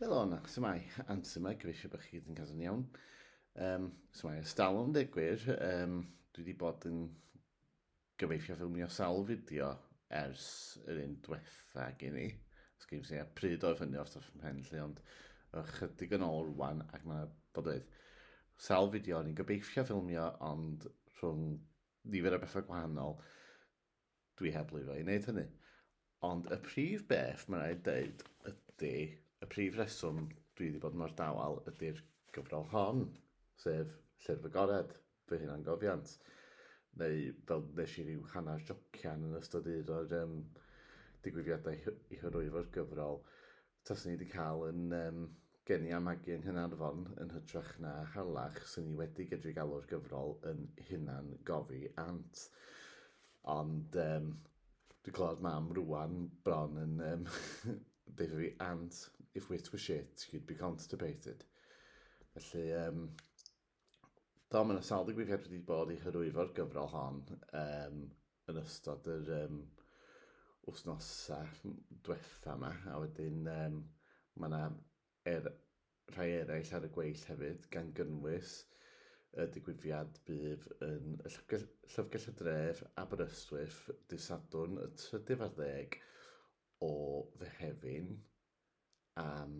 Fel o'n, sy'n mai, anti mae, gyfeisio bod chi gyd yn cael yn iawn. Um, sy'n mai, ystalwm deg gwir, um, dwi wedi bod yn gyfeisio ffilmio sawl fideo ers yr un diwetha gen i. Os gen i pryd oedd hynny o'r toff ymhen lle, ond ychydig yn ôl rwan, ac mae bod oedd sawl fideo o'n i'n gyfeisio ffilmio, ond rhwng nifer o bethau gwahanol, Dwi heb lwyddo i wneud hynny. Ond y prif beth mae'n rhaid dweud ydy, y prif reswm dwi wedi bod mor dawel ydy'r gyfrol hon, sef Llyfr y Gored, fy hunangofiant, neu fel wnes i ryw hanner jocian yn ystod un o'r um, digwyddiadau i hyrwyo'r gyfrol, Taswn i 'di cael yn um, geni a magu yng Nghaernarfon yn hytrach na Harlech, sy'n i wedi gydru galw'r gyfrol yn hunan gofi ant. Ond um, dwi'n clywed mam rwan bron yn um, deitha fi ant, if wit were shit, you'd be constipated. Felly, um, do, mae'n yna sawl digwyddiad wedi bod i hyrwyfo'r gyfrol hon, um, yn ystod yr um, wythnosau diwetha yma, a wedyn um, mae yna er, rhai eraill ar y gweill hefyd, gan gynnwys y digwyddiad bydd yn y llyfrgell, llyfrgell y dref Aberystwyth dydd Sadwrn y 30 o Fehefin am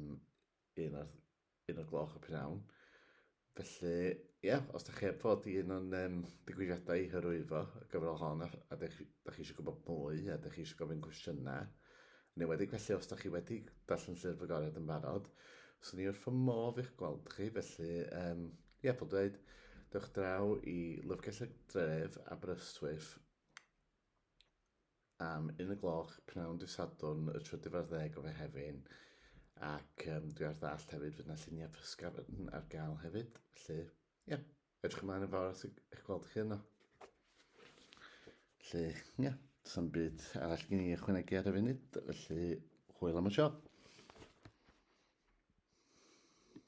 un o'r un o'r gloch y p'nawn. Felly, ia, os da chi heb fod i un o'n um, digwyddiadau i hyrwyddo y gyfrol hon, a, a da chi, da chi eisiau gwybod mwy, a da chi eisiau gofyn cwestiynau, neu wedi felly os da chi wedi darllen llyfr y goriad yn barod, swn i wrth fy modd i'ch gweld chi, felly, um, ia, fel dweud, dewch draw i Lyfrgell y Dref, Aberystwyth, am un y gloch pnawn dydd Sadwrn y trydydd ar ddeg o Fehefin ac um, dwi ar ddall hefyd fydd yna lluniau pysgar yn ar gael hefyd felly ie yeah. edrych ymlaen yn fawr at eich gweld chi yno felly ie yeah. does am byd arall gen i ychwanegu ar y funud felly hwyl am y siop